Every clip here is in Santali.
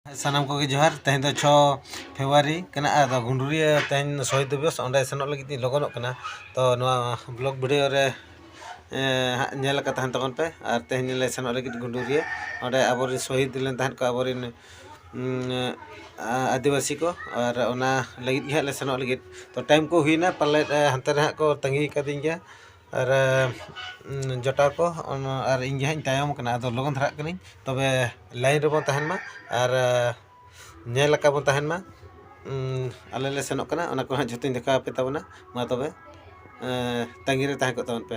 ᱥᱟᱱᱟᱢ ᱠᱚᱜᱮ ᱡᱚᱦᱟᱨ ᱛᱮᱦᱮᱧ ᱫᱚ ᱪᱷᱚ ᱯᱷᱮᱵᱽᱨᱩᱣᱟᱨᱤ ᱠᱟᱱᱟ ᱟᱫᱚ ᱜᱩᱰᱩᱨᱤᱭᱟᱹ ᱛᱮᱦᱮᱧ ᱫᱚ ᱥᱚᱦᱤᱫᱽ ᱫᱤᱵᱚᱥ ᱚᱸᱰᱮ ᱥᱮᱱᱚᱜ ᱞᱟᱹᱜᱤᱫ ᱛᱤᱧ ᱞᱚᱜᱚᱱᱚᱜ ᱠᱟᱱᱟ ᱛᱚ ᱱᱚᱣᱟ ᱵᱞᱚᱜᱽ ᱵᱷᱤᱰᱤᱭᱳ ᱨᱮ ᱦᱟᱸᱜ ᱧᱮᱞ ᱟᱠᱟᱫ ᱛᱟᱦᱮᱱ ᱛᱟᱵᱚᱱ ᱯᱮ ᱟᱨ ᱛᱮᱦᱮᱧ ᱞᱮ ᱥᱮᱱᱚᱜ ᱞᱟᱹᱜᱤᱫ ᱜᱩᱰᱩᱨᱤᱭᱟᱹ ᱚᱸᱰᱮ ᱟᱵᱚ ᱨᱮᱱ ᱥᱚᱦᱤᱫᱽ ᱞᱮᱱ ᱛᱟᱦᱮᱸᱫ ᱠᱚ ᱟᱵᱚ ᱨᱮᱱ ᱟᱹᱫᱤᱵᱟᱹᱥᱤ ᱠᱚ ᱟᱨ ᱚᱱᱟ ᱞᱟᱹᱜᱤᱫ ᱜᱮ ᱦᱟᱸᱜ ᱞᱮ ᱥᱮᱱᱚᱜ ᱞᱟᱹᱜᱤᱫ ᱛᱚ ᱴᱟᱭᱤᱢ ᱠᱚ ᱦᱩᱭᱱᱟ ᱯᱟᱞᱮᱫ ᱦᱟᱱᱛᱮ ᱨᱮ ᱦᱟᱸᱜ ᱠᱚ ᱛᱟᱺᱜᱤ ᱠᱟᱹᱫᱤᱧ ᱜᱮᱭᱟ ᱟᱨ ᱡᱚᱴᱟᱣ ᱠᱚ ᱟᱨ ᱤᱧ ᱜᱮ ᱦᱟᱸᱜ ᱤᱧ ᱛᱟᱭᱚᱢ ᱠᱟᱱᱟ ᱟᱫᱚ ᱞᱚᱜᱚᱱ ᱫᱷᱟᱨᱟᱜ ᱠᱟᱹᱱᱟᱹᱧ ᱛᱚᱵᱮ ᱞᱟᱭᱤᱱ ᱨᱮᱵᱚᱱ ᱛᱟᱦᱮᱱ ᱢᱟ ᱟᱨ ᱧᱮᱞ ᱟᱠᱟ ᱵᱚᱱ ᱛᱟᱦᱮᱱ ᱢᱟ ᱟᱞᱮ ᱞᱮ ᱥᱮᱱᱚᱜ ᱠᱟᱱᱟ ᱚᱱᱟ ᱠᱚ ᱦᱟᱸᱜ ᱡᱚᱛᱚᱧ ᱫᱮᱠᱷᱟᱣ ᱟᱯᱮ ᱛᱟᱵᱚᱱᱟ ᱢᱟ ᱛᱚᱵᱮ ᱛᱟᱺᱜᱤ ᱨᱮ ᱛᱟᱦᱮᱸ ᱠᱚᱜ ᱛᱟᱵᱚᱱ ᱯᱮ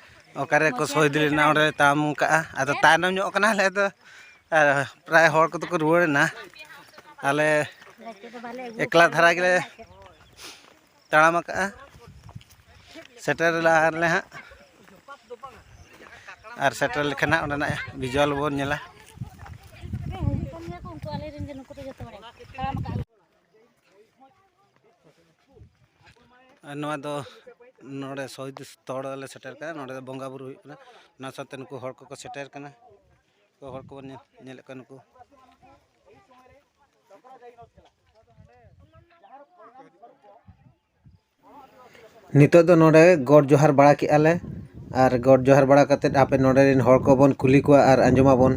ᱚᱠᱟᱨᱮ ᱠᱚ ᱥᱚᱦᱤᱫ ᱞᱮᱱᱟ ᱚᱸᱰᱮ ᱛᱟᱢ ᱠᱟᱜᱼᱟ ᱟᱫᱚ ᱛᱟᱭᱱᱚᱢ ᱧᱚᱜ ᱠᱟᱱᱟ ᱟᱞᱮ ᱫᱚ ᱯᱨᱟᱭ ᱦᱚᱲ ᱠᱚᱫᱚ ᱠᱚ ᱨᱩᱣᱟᱹᱲ ᱮᱱᱟ ᱟᱞᱮ ᱮᱠᱞᱟ ᱫᱷᱟᱨᱟ ᱜᱮᱞᱮ ᱛᱟᱲᱟᱢ ᱟᱠᱟᱜᱼᱟ ᱥᱮᱴᱮᱨ ᱞᱟᱦᱟᱨᱮ ᱦᱟᱸᱜ ᱟᱨ ᱥᱮᱴᱮᱨ ᱞᱮᱠᱷᱟᱱ ᱦᱟᱸᱜ ᱚᱸᱰᱮᱱᱟᱜ ᱵᱷᱤᱡᱩᱣᱟᱞ ᱵᱚᱱ ᱧᱮᱞᱟ ᱟᱨ ᱱᱚᱣᱟ ᱫᱚ ᱱᱚᱰᱮ ᱥᱚᱦᱤᱫ ᱥᱛᱷᱚᱞ ᱨᱮᱞᱮ ᱥᱮᱴᱮᱨ ᱠᱟᱱᱟ ᱱᱚᱰᱮ ᱫᱚ ᱵᱚᱸᱜᱟ ᱵᱳᱨᱳ ᱦᱩᱭᱩᱜ ᱠᱟᱱᱟ ᱚᱱᱟ ᱥᱟᱶᱛᱮ ᱱᱩᱠᱩ ᱦᱚᱲ ᱠᱚᱠᱚ ᱥᱮᱴᱮᱨ ᱠᱟᱱᱟ ᱱᱩᱠᱩ ᱦᱚᱲ ᱠᱚᱵᱚᱱ ᱧᱮᱞᱮᱫ ᱠᱚᱣᱟ ᱱᱩᱠᱩ ᱱᱤᱛᱳᱜ ᱫᱚ ᱱᱚᱸᱰᱮ ᱜᱚᱰ ᱡᱚᱦᱟᱨ ᱵᱟᱲᱟ ᱠᱮᱫᱼᱟ ᱞᱮ ᱟᱨ ᱜᱚᱰ ᱡᱚᱦᱟᱨ ᱵᱟᱲᱟ ᱠᱟᱛᱮᱫ ᱟᱯᱮ ᱱᱚᱸᱰᱮ ᱨᱮᱱ ᱦᱚᱲ ᱠᱚᱵᱚᱱ ᱠᱩᱞᱤ ᱠᱚᱣᱟ ᱟᱨ ᱟᱸᱡᱚᱢᱟᱵᱚᱱ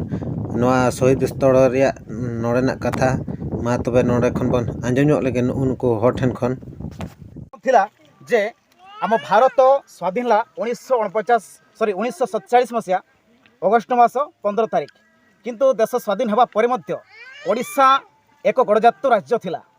ᱱᱚᱣᱟ ᱥᱚᱦᱤᱫᱽ ᱥᱛᱷᱚᱞ ᱨᱮᱭᱟᱜ ᱱᱚᱸᱰᱮᱱᱟᱜ ᱠᱟᱛᱷᱟ ᱢᱟ ᱛᱚᱵᱮ ᱱᱚᱸᱰᱮ ᱠᱷᱚᱱ ᱵᱚᱱ ᱟᱸᱡᱚᱢ ᱧᱚᱜ ᱞᱮᱜᱮ ᱱᱩᱜᱼᱩ ᱱᱩᱠᱩ ᱦᱚᱲ ᱴᱷᱮᱱ ᱠᱷᱚᱱ ᱛᱷᱤᱞᱟ ᱡᱮ ᱟᱢᱚ ᱵᱷᱟᱨᱚᱛ ᱥᱣᱟᱫᱷᱤᱱ ᱞᱟ ᱩᱱᱤᱥᱥᱚ ᱚᱱᱯᱚᱪᱟᱥ ᱥᱚᱨᱤ ᱩᱱᱤᱥᱥᱚ ᱥᱚᱛᱪᱟᱲᱤᱥ ᱢᱚᱥᱤᱭᱟ ᱚᱜᱚᱥᱴ ᱢᱟᱥ ᱯᱚᱱᱫᱨᱚ ᱛᱟᱹᱨᱤᱠᱷ ᱠᱤᱱᱛᱩ ᱫᱮᱥ ᱥᱣᱟᱫᱷᱤᱱ ᱦᱮᱵᱟ ᱯᱚᱨᱮ ᱢᱚᱫᱽᱫᱷᱚ ᱳᱰᱤᱥᱟ ᱮᱠᱚ ᱜᱚᱲᱚᱡᱟᱛᱛᱚ ᱨᱟᱡᱽᱡᱚ ᱛᱷᱤᱞᱟ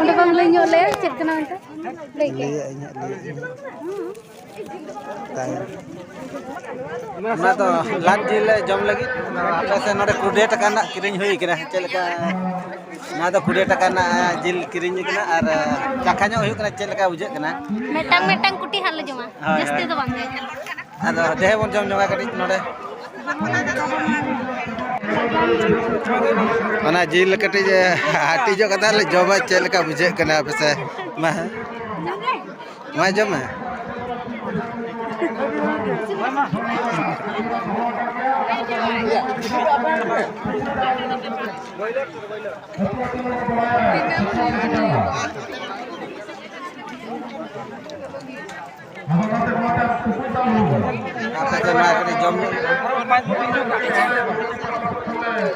ᱚᱸᱰᱮ ᱵᱟᱝ ᱞᱟᱹᱭ ᱧᱚᱜ ᱞᱮᱭᱟ ᱪᱮᱫ ᱠᱟᱱᱟ ᱚᱱᱛᱮ ᱞᱟᱹᱭ ᱠᱮᱫ ᱞᱟᱹᱭᱟᱜ ᱤᱧ ᱦᱟᱸᱜ ᱞᱟᱹᱭᱟᱜ ᱤᱧ ᱛᱟᱭᱚᱢ ᱚᱱᱟ ᱫᱚ ᱞᱟᱫ ᱡᱤᱞ ᱞᱮ ᱡᱚᱢ ᱞᱟᱹᱜᱤᱫ ᱟᱯᱮ ᱥᱮᱫ ᱱᱚᱰᱮ ᱠᱨᱩᱰᱮᱴ ᱟᱠᱟᱱ ᱦᱟᱸᱜ ᱠᱤᱨᱤᱧ ᱦᱩᱭ ᱠᱟᱱᱟ ᱪᱮᱫ ᱞᱮᱠᱟ ᱱᱚᱣᱟ ᱫᱚ ᱠᱩᱲᱤ ᱴᱟᱠᱟ ᱨᱮᱱᱟᱜ ᱡᱤᱞ ᱠᱤᱨᱤᱧ ᱠᱟᱱᱟ ᱟᱨ ᱪᱟᱠᱷᱟ ᱧᱚᱜ ᱦᱩᱭᱩᱜ ᱠᱟᱱᱟ ᱪᱮᱫ ᱞᱮᱠᱟ ᱵᱩᱡᱷᱟᱹᱜ ᱠᱟᱱᱟ ᱢᱤᱫᱴᱟᱝ ᱢᱤᱫᱴᱟᱝ ᱠᱩᱴᱤ ᱦᱟᱸᱜ ᱞᱮ ᱡᱚᱢᱟ ᱡᱟᱹᱥᱛᱤ ᱫᱚ ᱵᱟᱝ ᱟᱫᱚ ᱫᱮᱦᱮ ᱵᱚᱱ ᱡᱚᱢ ᱧᱚᱜᱟ ᱠᱟᱹᱴᱤᱡ ᱱᱚᱰᱮ ᱚᱱᱟ ᱡᱤᱞ ᱠᱟᱹᱴᱤᱡ ᱦᱟᱹᱴᱤᱧᱚᱜ ᱠᱟᱛᱮ ᱞᱮ ᱡᱚᱢᱟ ᱪᱮᱫ ᱞᱮᱠᱟ ᱵᱩᱡᱷᱟᱹᱜ ᱠᱟᱱᱟ ᱯᱟᱥᱮ ᱢᱟ ᱱᱚᱣᱟ ᱡᱚᱢ ᱢᱮ ᱡᱚᱢ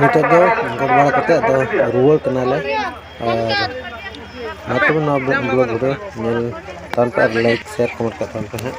ᱱᱤᱛᱚᱜ ᱫᱚ ᱜᱚᱰ ᱵᱟᱲᱟ ᱠᱟᱛᱮ ᱟᱫᱚ ᱨᱩᱣᱟᱹᱲ ᱠᱟᱱᱟᱞᱮ ᱟᱨ ᱢᱟ ᱛᱚᱵᱮ ᱱᱚᱣᱟ ᱵᱞᱚᱜ ᱵᱷᱤᱰᱤᱭᱳ ᱧᱮᱞ ᱛᱟᱢ ᱯᱮ ᱟᱨ ᱞᱟᱭᱤᱠ ᱥᱮᱭᱟᱨ ᱠᱚᱢᱮᱱᱴ ᱠᱟᱜ ᱛᱟᱢ ᱯᱮ ᱦᱟᱸᱜ